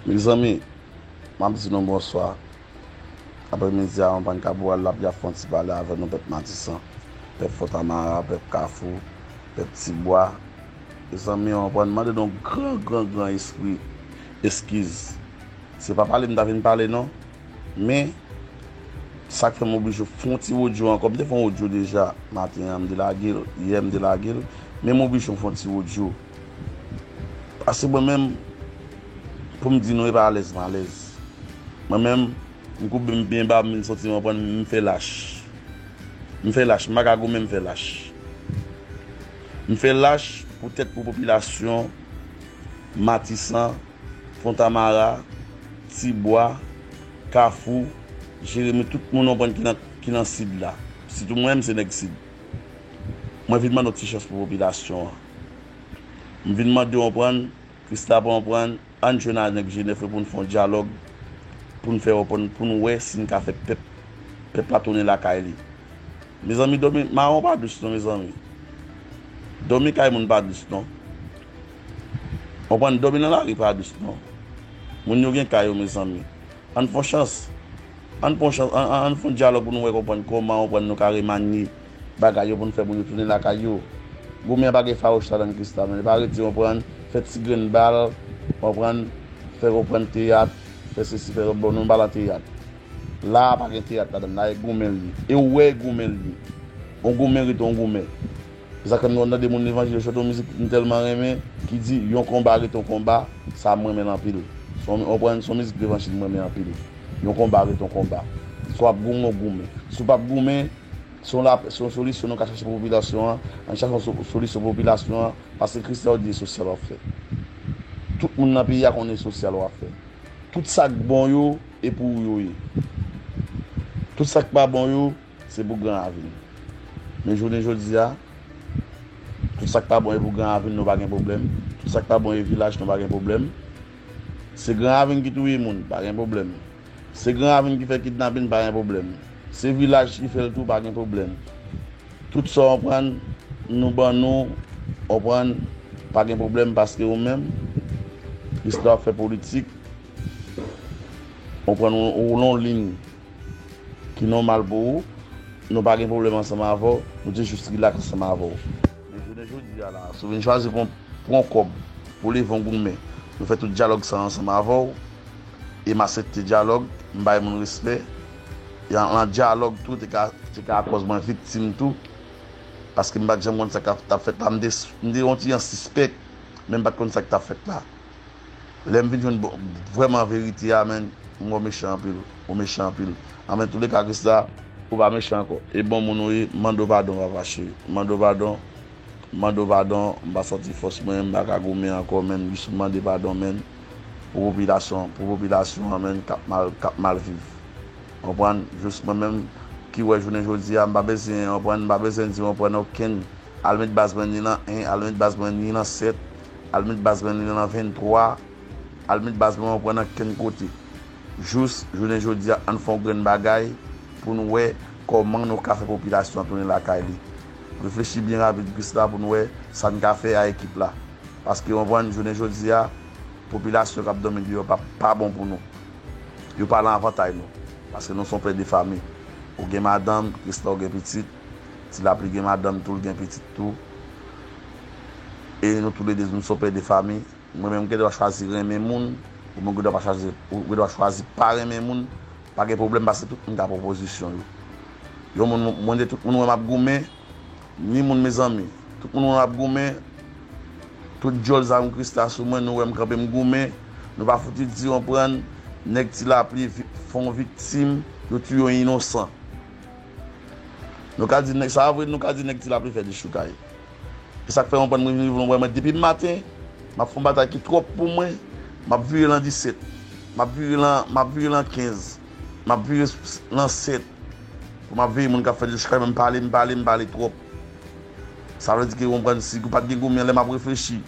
Mezanmi map di nou bonswa aprè midi a anbann kaporal lap ya fon ti pale avè nou pèp matisan pèp fontamara pèp kafou pèp ti bwa mezanmi anbann mande nou gran gran gran espri eskiz se pa pale m ta vin pale non men sak fè m oblije fon ti odyo ankò m te fon odyo deja maten an m delagel yè m delagel men m oblije fon ti odyo. Paske mwen menm, pou m di nou e pa alèz m alèz. Mwen menm, m koube m byen ba, m vin soti m anprann m fè lach. M fè lach, m pa ka goumen m fè lach. M fè lach poutèt pou popilasyon Matisan, Fontamara, Tibwa, Kafou, Jeremi, tout moun ou anprann ki nan Sid la. Sitou mwen, m se nèg Sid. Mwen vin mande yon ti chans pou popilasyon an. M vin mandew anprann, Christa pa anprann, ann jwenn a nèg jenèf yo poun fè yon dyalòg poun fè open poun wè sin ka fè pèp pèp la tounen lakay li mezanmi dòmi maron pa dous non mezanmi dòmi kay moun pa dous non anprann dòmi nan lari pa dous non moun yo gen kay yo mezanmi ann fon chans ann pon chans ann fon dyalòg poun wè konprann kòman anprann nou ka remanye Bagay yo pou n fè moun yo tounen lakay yo. Goumen an pa gen fawouch ladann Christa non li pa rete konprann fè ti grenn bal konprann fè konprann teyat fè sesi fè lòt bon nou pa lan teyat la a pa gen teyat ladann la a e goumen l ye e ou wè e goumen l ye on goumen rete on goumen se sak fè m konn tande moun levanjil yo chante yon mizik m tèlman renmen ki di yon konba rete on konba sa a m renmen l anpil son konprann son mizik levanjil m renmen anpil yon konba rete on konba si w ap goumen w goumen si w p ap goumen. Se yon solisyon nou ka chache pou popilasyon an, an chache yon solisyon pou popilasyon an, paske Christian yo di e sosyal wap fè. Tout moun nan peyi a konnen e sosyal wap fè. Tout sa k bon yo, e pou ou yo ye. Tout sa k pa bon yo, se pou gran avin. Men jounen jodi a, tout sa k pa bon e pou gran avin nou pa gen pwoblèm, tout sa k pa bon e vilaj nou pa gen pwoblèm. Se gran ravin ki touye moun, pa gen pwoblèm. Se gran ravin ki fè kidnapin, pa gen pwoblèm. Se vilaj ki fè l tou, pa gen pwoblèm. Tout sa w anprann, nou ban nou, anprann, pa gen pwoblèm paske ou menm, plis lè w ap fè politik, anprann ou lonlin. Ki nòmal pou ou. Nou pa gen pwoblèm ansanm avè w. Nou te jis rilaks ansanm avè w. Men jounen jodi a la a, si w vin chwazi pou w pran kòb pou w leve yon goumen, nou fè tout dyalòg sa a ansanm avè w. E m asepte dyalòg. M bay moun respè. E nan dyalòg tou, te ka akòz mwen viktim tou. Paske m pa t janm konn sa k t ap fèt la. M te yon ti jan sispèk, men m pa t konn sa k t ap fèt la. lèm vin jwenn bon vrèman verite a menn m wè w mechan anpil ou mechan anpil anfen tou le ka krisla ou pa mechan ankò e bon moun ou ye mande padon vava cheri mande padon mande padon m pa santi fòs mwen m paka goumen ankò menm jis mande padon menn pou popilasyon pou popilasyon an menn kap mal kap mal viv konprann jis mwen menm ki wè jounen jodi a m pa bezyen konprann m pa bezyen di konprann okenn al met baz mwen ni nan 1 al met baz mwen ni nan 7. Al met baz lan li nan lan 23 Al met baz lan ou pran nan kenn kote Jous jounen jodia ann fè yon grenn bagay pou n wè kòman nou ka fè popilasyon an tounen lakay li Reflechi byen rapid Krisla pou n wè sa n ka fè a ekip la Paske ou konprann jounen jodia popilasyon k ap dòmi deyò pa pa bon pou nou Yo pa lan avantay nou Paske nou s on pè de fami Ou gen madanm Krisla ou gen pitit Ti lapli gen madanm tou l gen pitit tou e nou tou le 2 nou son pè de fami mwen menm gen dwa chwazi renmen moun ou menm gen dwa pa chwazi ou gen dwa chwazi pa renmen moun pa gen pwoblèm paske tout moun ka pran pozisyon yo yon moun mwen de tout moun wè m ap goumen ni moun mezanmi tout moun wè m ap goumen tout dyòl zanmi Christa sou mwen nou wè m kanpe m goumen nou pa fouti di yon prann nèg ti lapli fè yon viktim yo touye yon inosan. Nou ka di nèg sa a vre, nou ka di nèg ti lapli fè dechoukay. E sa k fè yon bann moun vin voun wè mwen depi maten, m ap fè yon batay ki twòp pou mwen, m ap vire lan 17, m ap vire lan, m ap vire lan 15, m ap vire lan 7 pou m ap veye moun k ap fè dechoukay men m pale, m pale, m pale twòp. Sa vle di ke ou konprann si pat gen goumen lè m ap reflechi.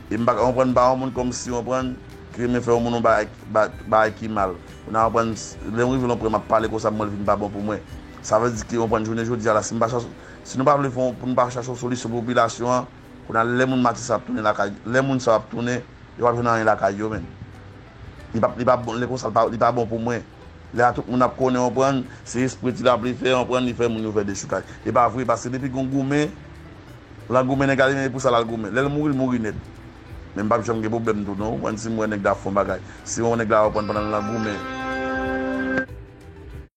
E m pa ka konprann pa yon moun kòm si konprann ki renmen fè yon moun yon bagay bagay ki mal ou nan konprann lè m rive lon pwen m ap pale konsa m wè l vin pa bon pou mwen sa vle di ki konprann jounen jodi a la si m pa chache si nou pa vle fè yon pou nou pa chache yon solisyon pou popilasyon an kounye a lè moun mati sa ap tounen lakay lè moun sa yo ap tounen yo pap jwenn anyen lakay yo menm li pap li pa bon lè konsa l pa li pa bon pou mwen lè a tout moun ap konnen konprann se espre ti lapli fè konprann li fè moun yo fè dechoukay e pa vre paske depi gon goumen Lan goumen nèg la li menm epou sa lal goumen lèl mouri li mouri nèt menm pap janm gen problèm tou non ou konprann sim wè nèg la fon bagay si yon nèg la reprann pandan lan goumen.